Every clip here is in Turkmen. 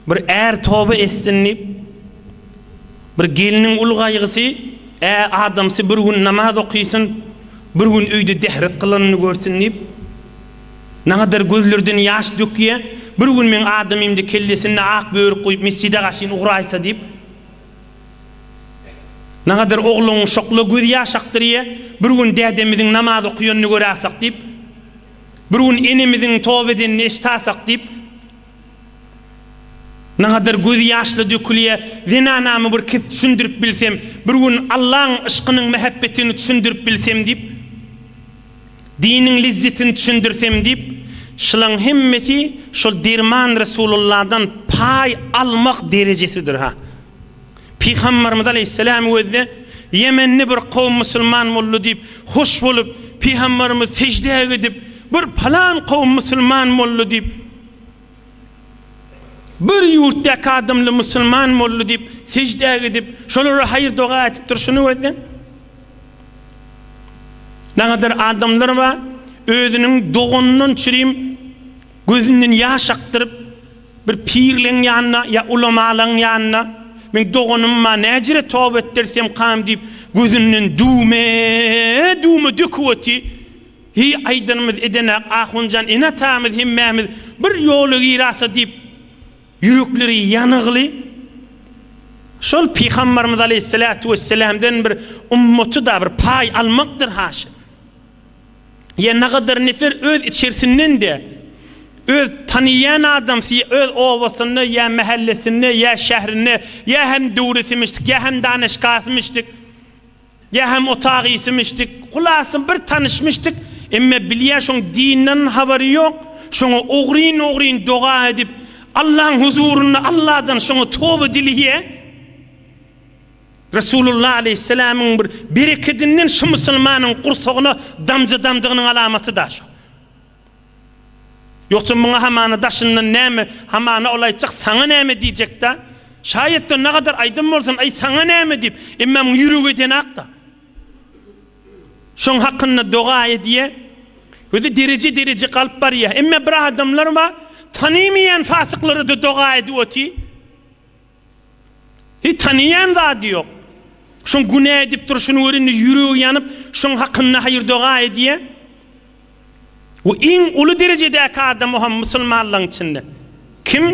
Bir är toba etsin diýip, bir gelniň uly gaýgysy, Ä, adamsy bir gün namaz okysyn, bir gün öýde dehret kylanyny görsün diýip, nagadar gözlerden ýaş dökýä, bir gün meň adamymda kellesinde ak börük guýup mesjide gaşyn ugraýsa diýip, nagadar ogluň şokla göz ýaş akdyrýa, bir gün dädemiziň namaz okýanyny göräsek diýip, Bir gün enemiziň toba edenini eşitasak diýip, nagadar gözi ýaşla dökülýär. Zenanamy bir kep düşündirip bilsem, bir gün Allaň yşkynyň mähebbetini düşündirip bilsem diýip, diniň lezzetini düşündirsem diýip, şylaň hemmesi şol derman Resululladan paý almak derejesidir-ha. Pygambarymyz aleýhissalam özde ýemenli bir kowum musulman boldy diýip hoş bolup, pygambarymyz seždä gidip, bir palan kowum musulman boldy diýip, bir ýurtdaky adamly musulman boldy diýip seždä gidip, şolara haýyr doga ätip durşuny özde. Nagadar adamlar bar, özüniň doganyndan çürim gözünden ýaş akdyryp, Bir pirleň ýanyna ýa ulamalaň ýanyna, Meň doganym bar, näjire toba etdirsemkam diýip, gözünden düwme, düwme döküp oty. Heý, aýdanymyz edenak, ahunjan ene-atamyz hemmämiz bir ýola girasa diýip, ýürekleri ýanygly. Şol pygambarymyz aleýhissalatu wesselamdan bir ummaty-da bir paý almakdyr haşa. Ýa nagadar nefer öz içersinden-de, öz tanyýan adamsy ýa öz obasynda ýa mähellesinde ýa şährinde ýa hem döwresimişdik ýa hem danyşgasymişdik, ýa hem otagysymişdik, hulasa bir tanyşmyşdyk, emme bilýä şoň dinden habary ýok, şoňa ogryn-ogryn doga edip, Allaň huzurynda Alladan şoňa toba dileýä. Resulullah aleýhissalamyň bir berekedinden şu musulmanyň gursagyna damja damdygynyň alamaty da şo. Ýogsa muňa hamana daşyndan näme, hamana ol aýtjak saňa näme diýjek da. Şaýat-da nagadar aýdan bolsun, aý saňa näme diýip, emma muň ýüregi edenak da. Şoň hakynda doga edýä. Özi dereje dereje galyp barýa. Emma bir adamlar bar, tanymaýan fasyklara-da doga edip otyr. Hiç tanaýan zady ýok. Şoň günä edip durşuny gör indi ýüregi ýanyp şoň hakynda haýyr-doga edýä. Bu iň uly derejedäki adam o hem musulmanlaň içinde. Kim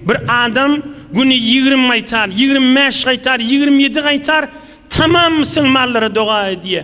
bir adam güni ýigrimi gaýtar, ýigrimi bäş gaýtar, ýigrimi ýedi gaýtar tamam musulmanlara doga edýä.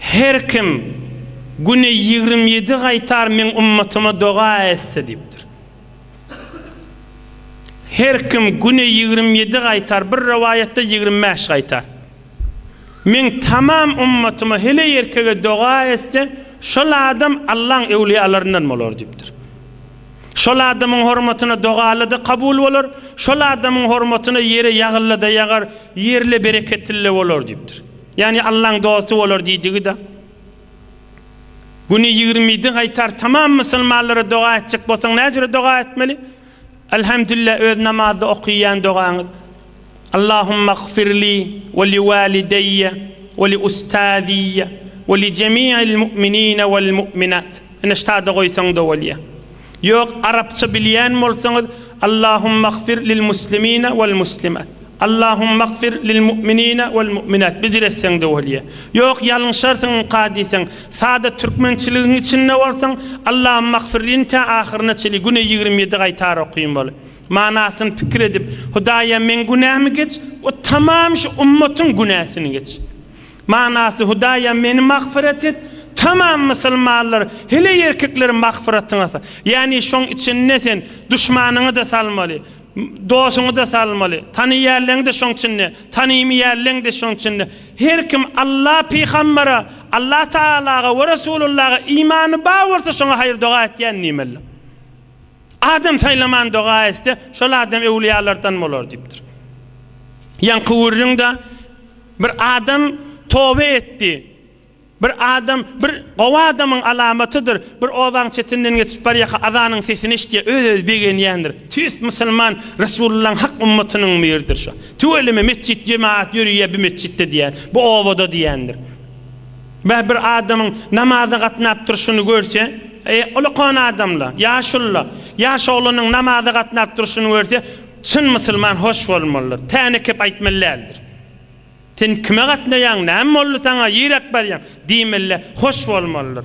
Her kim güne ýigrimi ýedi gaýtar Meň ummatyma doga etse diýipdir. Her kim güne ýigrimi ýedi gaýtar, bir rowaýatda ýigrimi bäş gaýtar. Meň tamam ummatyma heleý erkege doga etse, şol adam Allaň öwliýalaryndan bolar diýipdir. Şol adamyň hormatyna dogalada kabul bolar, şol adamyň hormatyna ýere ýagyllada ýagar, ýerle bereketlle bolar diýipdir. Ýagny Allaň dosty bolar diýdigi-de. Güni ýigrimi ýedi gaýtar tamam musulmanlara doga etjek bolsaň näjüre doga etmeli? Elhamdülillah öz namazda okyýan dogaňyz. Allahumagfirli we li walideýýe we li ustaziyye we li jemi'il mu'minine wal mu'minat. Ine ştada goýsaň-da bolýa. Ýok arapça bilýän bolsaňyz Allahumagfir lil muslimina wal muslimat Allahumagfir lil mu'minina wal mu'minat bicr etseňde bolýa. Ýok ýalňyşarsyň ynka diýseň sada türkmençiligiň içinde bolsaň Allahumagfirlini tä ahyryna çenli güne ýigrimi ýedi gaýtar okyn bol. Manasyny pikir edip Hudaýa meň günämi geç we tamam şu ummatyň günäsini geç. Manasy, Hudaýym, meni magfyrat et! Tamam musulmanlar, hele erkekler magfyratyňa sal. Ýagny şoň içinde sen duşmanyňy-da salmaly, dosuňy-da salmaly, tanaýanleňi-de şoň içinde, tanaýmaýanleňi-de şoň içinde. Her kim Alla, Pygambere, Alla Tagalaga we Resulullaga imany bar bolsa şoňa haýyr-doga etýän diýmelidir. Adam saýlaman doga etse, şol adam öwlüýalardan bolar diýipdir. Ýaňky gürrüňde bir adam toba etdi. Bir adam, bir gowy adamyň alamatydyr, bir obaň çetinden geçip barýaka azanyň sesini eşitýär, öz-özi begenýändir. Tüýs musulman, Resulyllaň hak ümmatynyň biridir şu. Tüweleme metjit, jemagat ýörüýär bu metjitde diýýär, bu obada diýýändir. Beh bir adamyň namaza gatnap durşuny görse, e, ulkan adamla, ýaşulla, ýaş oglanyň namaza gatnap durşuny görse, çyn musulman hoş bolmalydyr, täne kep aýtmaly däldir. Sen kime gatnaýaň, näme boldy saňa, ýiräp barýaň? diýmeli, hoş bolmalydyr.